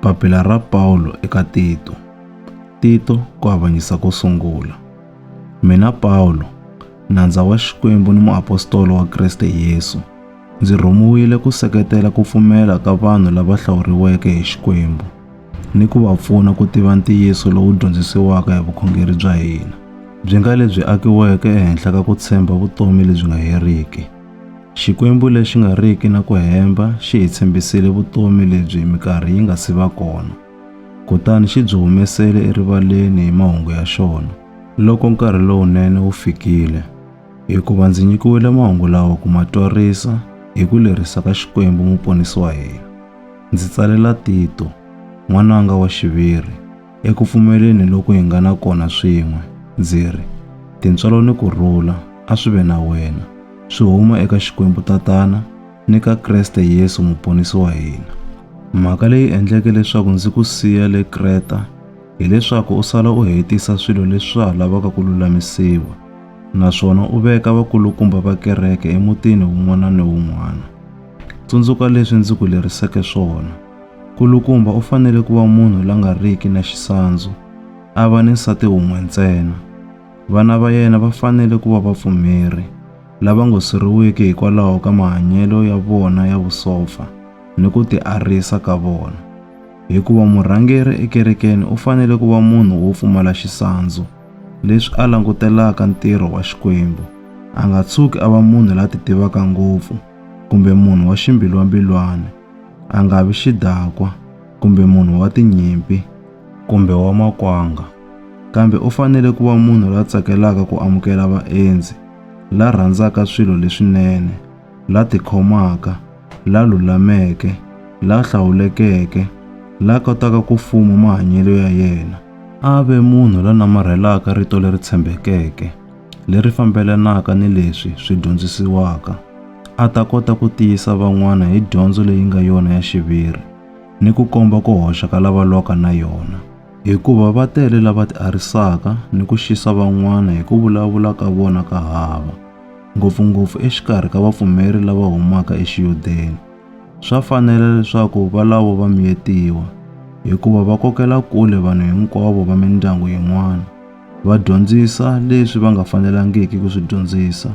Papila ra Pawulo eka Tito. Tito ku avanyisa ko sungula. Mina Pawulo, nandza wa Xikwembu ni muapostolo wa Kriste Yesu, ndzi rhumiwile ku seketela ku pfumela ka vanhu lava hlawuriweke hi Xikwembu ni ku va pfuna ku tiva ntiyiso lowu dyondzisiwaka hi vukhongeri bya hina, byi nga lebyi akiweke ehenhla ka ku tshemba vutomi lebyi nga heriki. Xikwembu lexi nga riki na ku hemba xi hi tshembisile vutomi lebyi mikarhi yi nga si va kona, kutani xi byi humesele erivaleni hi mahungu ya xona. Loko nkarhi lowunene wu fikile, hikuva ndzi nyikiwile mahungu lawa ku ma twarisa hi ku lerisa ka Xikwembu Muponisi wa hina, ndzi tsalela Tito, n'wananga wa xiviri, Eku pfumeleni loku hi nga na kona swin'we, ndzi ri, Tintswalo ni ku rhula a swi ve na wena, swi huma eka Xikwembu Tatana ni ka Kreste Yesu Muponisi wa hina. Mhaka leyi endleke leswaku ndzi ku siya le Kreta hi leswaku u sala u hetisa swilo leswi swa ha lavaka ku lulamisiwa, naswona u veka vakulukumba va kereke emutini wun'wana ni wun'wana. Tsundzuka leswi ndzi ku leriseke swona. Nkulukumba u fanele ku va munhu la nga riki na xisandzu, a va ni nsati wun'we ntsena. Vana va yena va fanele ku va vapfumeri, lava ngo siriwiki hikwalaho ka mahanyelo ya vona ya vusopfa ni ku tiarisa ka vona. Hikuva murhangeri ekerekeni u fanele ku va munhu wo pfumala xisandzu, leswi a langutelaka ntirho wa Xikwembu, a nga tshuki a va munhu la titivaka ngopfu kumbe munhu wa ximbilwambilwana. A nga vi xidakwa kumbe munhu wa tinyimpi kumbe wa makwanga, kambe u fanele ku va munhu la tsakelaka ku amukela vaendzi, la rhandzaka swilo leswinene, la tikhomaka, la lulameke, la hlawulekeke, la kotaka ku fuma mahanyelo ya yena. A ve munhu la namarhelaka rito leri tshembekeke. leri fambelanaka ni leswi swi dyondzisiwaka, a ta kota ku tiyisa van'wana hi dyondzo leyi nga yona ya xiviri ni ku komba ku hoxa ka lava lwaka na yona. Hikuva va tele lava tiarisaka ni ku xisa van'wana hi ku vulavula ka vona ka hava, ngopfu-ngopfu exikarhi ka vapfumeri lava humaka eXiyudeni. Swa fanela leswaku valavo va miyetiwa, hikuva va kokela kule vanhu hinkwavo va mindyangu yin'wana. va dyondzisa leswi va nga fanelangiki ku swi dyondzisa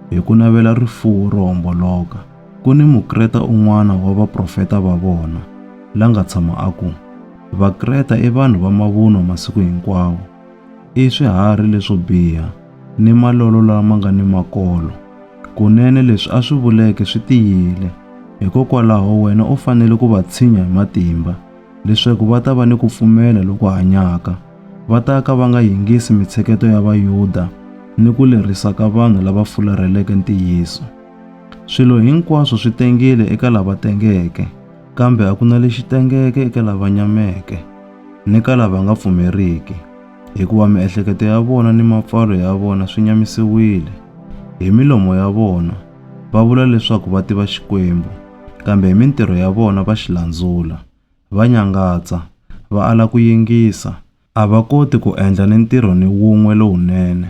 hi ku navela rifuwo ro homboloka. Ku ni Mukreta un'wana wa vaprofeta va vona la nga tshama a ku, Vakreta i vanhu va mavunwa masiku hinkwawo, i swiharhi leswo biha ni malolo lama nga ni makolo. Kunene leswi a swi vuleke swi tiyile, hikokwalaho wena u fanele ku va tshinya hi matimba leswaku va ta va ni ku pfumela loku hanyaka. va ta ka va nga yingisi mitsheketo ya Vayuda ni ku lerisa ka vanhu lava fularheleke ntiyiso. Swilo hinkwaswo swi tengile eka lava tengeke, kambe a ku na lexi tengeke eka lava nyameke ni ka lava nga pfumeriki, hikuva miehleketo ya vona ni mapfalo ya vona swi nyamisiwile. Hi milomo ya vona va vula leswaku va tiva Xikwembu, kambe hi mintirho ya vona va xi landzula. va nyangatsa, va ala ku yingisa, a va koti ku endla ni ntirho ni wun'we lowunene.